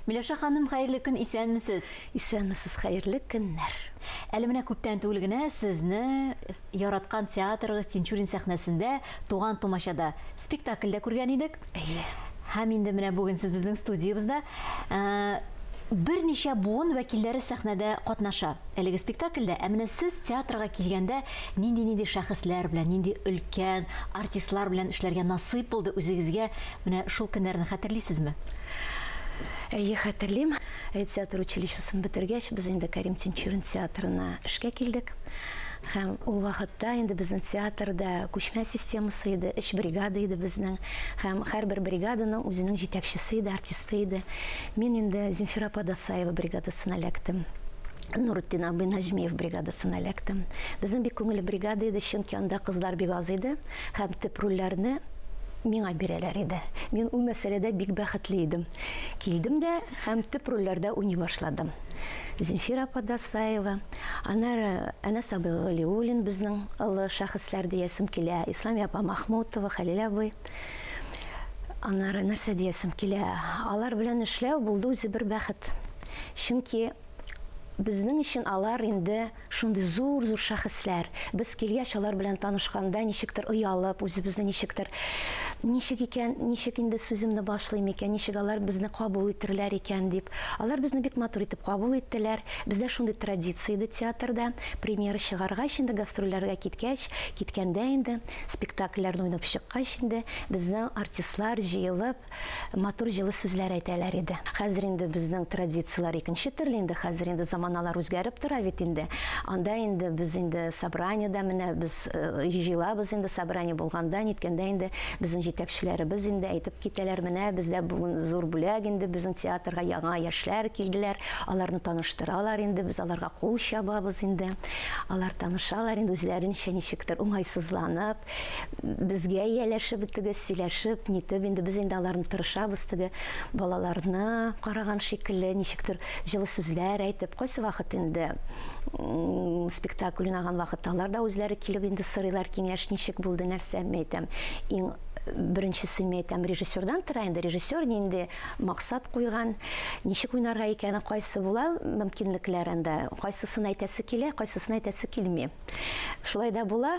Миләүшә ханым, хәерле көн, исәнмесез? Исәнмесез, хәерле көннәр. Әле менә күптән түгел генә сезне яраткан театрыгыз Тинчурин сәхнәсендә Туган тумачада спектакльдә күргән идек. Әйе. Һәм инде менә бүген сез безнең студиябездә. Э, берничә буын вәкилләре сәхнәдә катнаша. Әлеге спектакльдә, ә менә сез театрга килгәндә нинди-нинди шәхесләр белән, нинди өлкән артистлар белән эшләргә насыйп булды үзегезгә? Менә шул көннәрне хәтерлисезме? Әйе, хәтерлим. Театр училищесын бетергәч, без инде Кәрим Тинчурин театрына эшкә килдек. Һәм ул вакытта инде безнең театрда күчмә системасы иде, өч бригада иде безнең. Һәм һәрбер бригаданың үзенең җитәкчесе иде, артисты иде. Мин инде Земфира апа Дасаева бригадасына эләктем. Нурутдин абый Наҗмиев бригадасына эләктем. Безнең бик күңелле бригада иде, чөнки анда кызлар бик аз иде. Һәм төп рольләрне миңа бирәләр иде. Мин ул мәсьәләдә бик бәхетле идем. Килдем дә һәм төп рольләрдә уйный башладым. Зинфира апа Дасаева, аннары Әнәс абый Галиуллин, безнең олы шәхесләр диясем килә, Исламия апа Махмутова, Хәлил абый. Аннары нәрсә диясем килә, алар белән эшләү булды үзе бер бәхет. Чөнки безнең өчен алар инде Шундый зур-зур шәхесләр. Без килгәч, алар белән танышканда, ничектер оялып, үзебезне ничектер, Ничек икән, ничек инде сүземне башлыйм икән, ничек алар безне кабул итерләр икән, дип. Алар безне бик матур итеп кабул иттеләр. Бездә шундый традиция иде театрда, премьера чыгаргач, инде гастрольләргә киткәч, киткәндә инде, спектакльләрне уйнап чыккач инде, безнең артистлар җыелып, Матур җылы сүзләр әйтәләр иде. Хәзер инде безнең традицияләр икенче төрле инде, хәзер инде заманалар үзгәреп тора бит инде. Анда инде без инде собраниедә менә без җыелабыз инде, собрание булганда, ниткәндә инде безнең җитәкчеләребез инде әйтеп китәләр, менә бездә бүген зур бүләк инде безнең театрга яңа яшьләр килделәр, аларны таныштыралар инде, без аларга кул чабабыз инде. Алар танышалар инде үзләренчә ничектер уңайсызланып. Безгә ияләшеп итегез, сөйләшеп, нитеп, инде без инде аларны тырышабыз теге балаларны караган шикелле, ничектер җылы сүзләр әйтеп, кайсы вакыт инде спектакль уйнаган вакытта алар да үзләре килеп инде сорыйлар киңәш, ничек булды, нәрсә, мин әйтәм, иң беренчесе мин әйтәм, режиссердан тора инде, режиссер нинди максат куйган, ничек уйнарга икәне, кайсы була мөмкинлекләр анда, кайсысын әйтәсе килә, кайсысын әйтәсе килми. Шулай да була.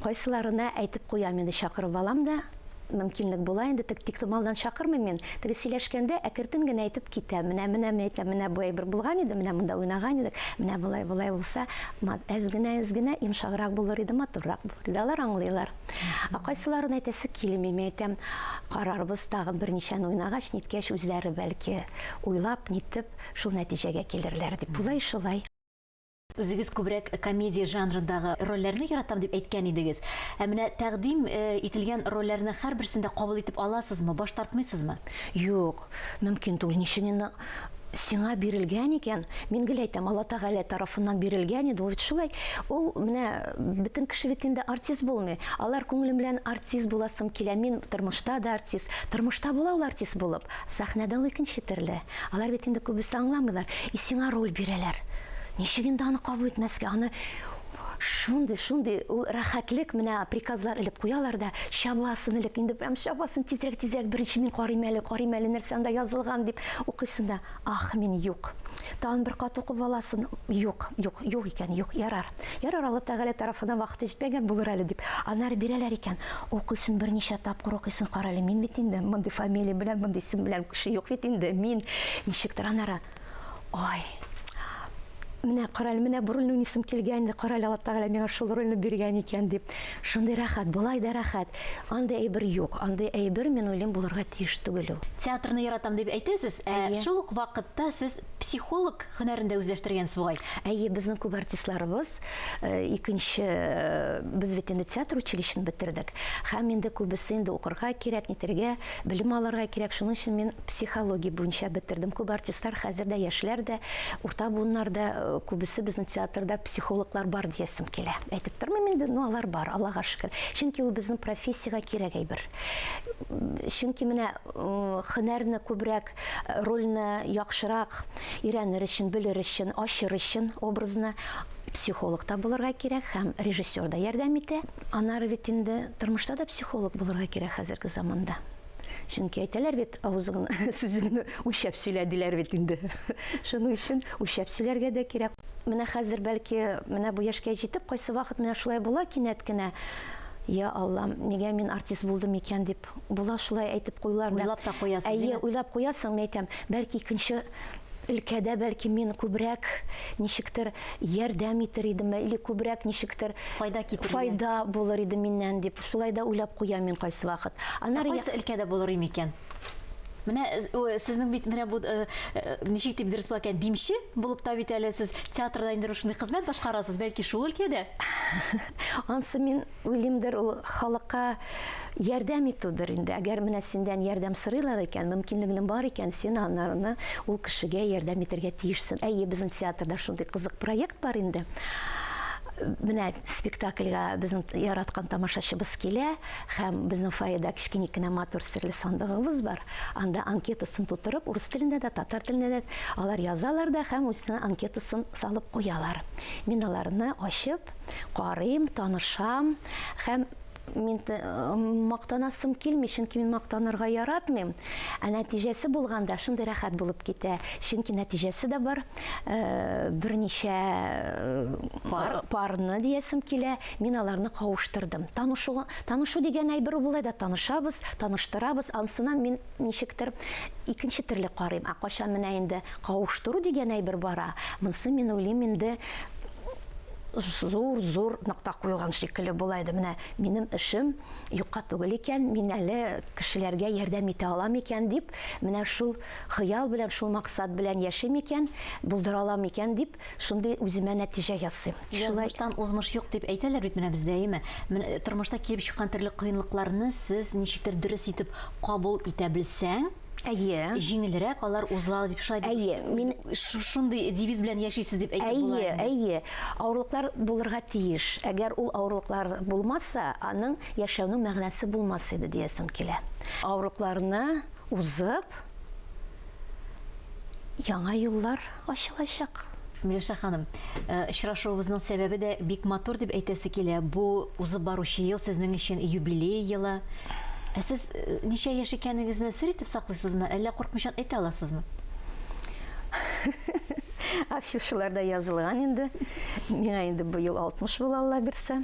Кайсыларына әйтеп куям инде, чакырып алам да, мөмкинлек була инде, тик тиктомалдан чакырмыйм мин, теге сөйләшкәндә әкертен генә әйтеп китәм, менә, менә мин әйтәм, менә бу әйбер булган иде, менә монда уйнаган идек, менә болай, болай булса, әз генә, әз генә йомшаграк булыр иде, матуррак булыр иде, алар аңлыйлар. Ә кайсыларына әйтәсе килми, мин әйтәм, карарбыз, тагын берничәне уйнагач, ниткәч, үзләре, бәлки, уйлап, нитеп, шул нәтиҗәгә килерләр, дип, болай, шулай. Үзегез күбрәк комедия жанрындагы рольләрне яратам дип әйткән идегез. Ә менә тәкъдим ителгән рольләрне һәрберсен дә кабул итеп аласызмы, баш тартмыйсызмы? Юк, мөмкин түгел. Ничек инде сиңа бирелгән икән, мин гел әйтәм, Алла Тәгалә тарафыннан бирелгән иде, ул бит шулай. Ул менә бөтен кеше бит инде артист булмый. Алар күңелем белән артист буласым килә, мин тормышта да артист. Тормышта була ул артист булып, сәхнәдә ул икенче төрле. Алар бит инде күбесе аңламыйлар, и сиңа роль бирәләр. Ничек инде аны кабул итмәскә, аны шундый, шундый ул рәхәтлек, менә приказлар элеп куялар да, чабасын элек, инде прям чабасын, тизрәк, тизрәк, беренче мин карыйм әле, карыйм әле, нәрсә анда язылган, дип укыйсын да, ах, мин, юк. Тагын бер кат укып аласын, юк, юк, юк икән, юк, ярар. Ярар, Алла Тәгалә тарафыннан вакыты җитмәгән булыр әле дип, аннары бирәләр икән. Укыйсың, берничә тапкыр укыйсың, карале, мин бит инде мондый фамилия белән, мондый исем белән кеше юк бит инде, мин, ничектер аннары, ай, менә карале, менә бу рольне уйныйсым килгән инде, карале, Алла Тәгалә миңа шул рольне биргән икән дип. Шундый рәхәт, болай да рәхәт. Андый әйбер юк. Андый әйбер, мин уйлыйм, булырга тиеш түгел ул. Театрны яратам дип әйтәсез, ә шул ук вакытта сез Психолог һөнәрен дә үзләштергәнсез бугай? Әйе, безнең күп артистларыбыз э, икенче э, без бит инде театр училищены бетердек. Һәм инде күбесе инде укырга кирәк, нитергә, белем алырга кирәк. Шуның өчен мин психология буенча бетердем. Күп артистлар хәзер дә яшьләр дә, урта буыннар да э, күбесе безнең театрда психологлар бар диясем килә. Әйтеп тормыйм инде, но алар бар, Аллага шөкер. Чөнки ул безнең профессиягә кирәк әйбер. Чөнки менә м, һөнәрне күбрәк Рольне яхшырак өйрәнер өчен, белер өчен, ачыр өчен образны психолог та булырга кирәк һәм режиссер да ярдәм итә. Аннары бит инде тормышта да психолог булырга кирәк хәзерге заманда. Чөнки әйтәләр бит, авызың сүзеңне үлчәп сөйлә, диләр бит инде. Шуның өчен үлчәп сөйләргә дә кирәк. Менә хәзер, бәлки, менә бу яшькә җитеп, кайсы вакыт менә шулай була кинәт кенә, Я Аллам, нигә мин артист булдым икән, дип Уйлап була шулай әйтеп куюларны. Уйлап та куясыз, әйе? Әйе, уйлап куясың, мин әйтәм, бәлки икенче өлкәдә бәлки мин күбрәк ничектер ярдәм итер идем или күбрәк ничектер файда китерер файда булыр иде миннән дип шулай да уйлап куям мин кайсы вакыт аннары ә кайсы өлкәдә булыр микән Менә э, сезнең бит менә бу э, э, ничек дип дөрес булган димче булып та бит әле сез театрда инде шундый хезмәт башкарасыз, бәлки шул өлкәдә? Ансы мин Уйлыймдыр, ул халыкка ярдәм итүдер инде. Әгәр менә синдән ярдәм сорыйлар икән, мөмкинлегең бар икән, син анарны ул кешегә ярдәм итәргә тиешсең. Әйе, безнең театрда шундый кызык проект бар инде. Менә спектакльгә безнең яраткан тамашачыбыз килә, һәм безнең фойеда кечкенек кенә матур серле сандыгыбыз бар. Анда анкетасын тутырып, урыс телендә дә, татар телендә дә алар язалар да һәм үзенең анкетасын салып куялар. Мин аларны ачып, карыйм, танышам һәм мин э, мактанасым килми, чөнки мин мактанырга яратмыйм. Ә нәтиҗәсе булганда шундый рәхәт булып китә. Чөнки нәтиҗәсе дә бар. Э, берничә э, пар парны диясем килә. Мин аларны кавыштырдым. Танышу танышу дигән әйбер булай да танышабыз, таныштырабыз. Ансына мин ничектер икенче төрле карыйм. Ә кайчан менә инде кавыштыру дигән әйбер бара, монсы мин уйлыйм инде зур-зур нокта куелган шикелле була иде. Менә минем эшем юкка түгел икән, мин әле кешеләргә ярдәм итә алам икән дип, менә шул хыял белән, шул максат белән яшим икән, булдыра алам икән дип, Шундый үземә нәтиҗә ясыйм. Язмыштан узмыш юк дип әйтәләр бит менә бездә, әйеме? Менә тормышта килеп чыккан төрле кыенлыкларны сез ничектер дөрес итеп кабул итә белсәң, Әйе. җиңелрәк алар уза дип шулай дип Әйе, мин Ш шундый девиз белән яшисез дип әйтеп була Әйе, инде. әйе. Авырлыклар булырга тиеш. Әгәр ул авырлыклар булмаса, аның яшәүнең мәгънәсе булмас иде диясем килә. Авырлыкларны узып, яңа юллар ачылачак. Миләүшә ханым, очрашуыбызның сәбәбе дә бик матур дип әйтәсе килә. Бу узып баручы ел сезнең өчен юбилей елы. Ә сез ничә яшь икәнегезне сер итеп саклыйсызмы, әллә куркмыйчан әйтә аласызмы? Афишаларда язылган инде. Миңа инде быел 60 була, Алла бирсә.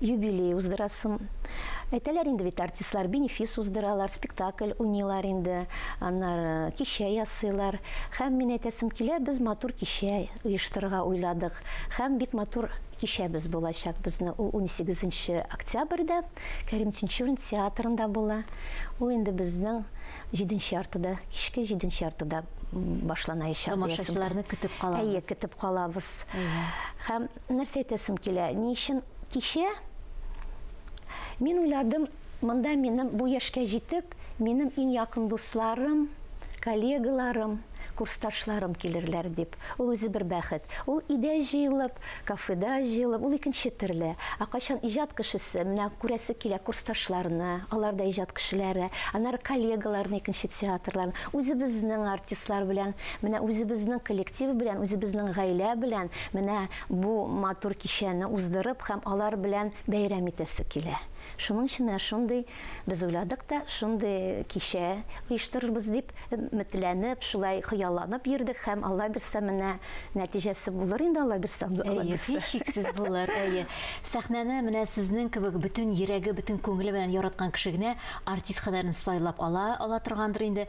Юбилей уздырасым. Әйтәләр инде бит, артистлар бенефис уздыралар, спектакль уйныйлар инде, аннары кичә ясыйлар. Һәм мин әйтәсем килә, без матур кичә оештырырга уйладык. Һәм бик матур кичәбез булачак безнең. Ул унсигезенче октябрьдә Кәрим Тинчурин театрында була. Ул инде безнең җиденче яртыда, кичке җиденче яртыда башланаячак. Тамашачыларны көтеп калабыз. Әйе, көтеп калабыз. Һәм Нәрсә әйтәсем килә, ни өчен кичә? Мин уйладым, монда минем бу яшькә җитеп, минем иң якын дусларым, коллегаларым, курсташларым килерләр дип. Ул үзе бер бәхет. Ул өйдә җыелып, кафеда җыелып, ул икенче төрле. Ә кайчан иҗат кешесе, менә күрәсе килә курсташларны, алар да иҗат кешеләре, аннары коллегаларны, икенче театрлар, үзебезнең артистлар белән, менә үзебезнең коллектив белән, үзебезнең гаилә белән, Менә бу матур кичәне уздырып һәм алар белән бәйрәм итәсе килә. Шуның өчен менә шундый без уйладык та, шундый кичә оештырырбыз дип өметләнеп, шулай хыялланып йөрдек һәм Алла бирсә, менә нәтиҗәсе булыр инде, Алла бирсә, Алла бирсә. Әйе, һичшиксез булыр, әйе. Сәхнәне менә сезнең кебек бөтен йөрәге, бөтен күңеле белән яраткан кеше генә артист һөнәрен сайлап ала ала торгандыр инде.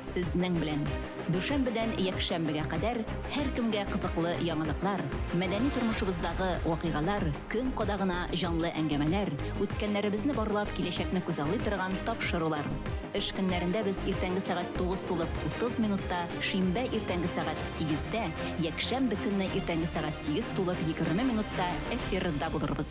Сезнең белән! Дүшәмбедән якшәмбегә кадәр һәркемгә кызыклы яңалыклар, мәдәни тормышыбыздагы вакыйгалар, көн кадагына җанлы әңгәмәләр, үткәннәребезне барлап киләчәкне күзаллый торган тапшырулар. Эш көннәрендә без иртәнге сәгать тугыз тулып утыз минутта, шимбә иртәнге сәгать сигездә, якшәмбе көнне иртәнге сәгать сигез тулып егерме минутта эфирда булырбыз.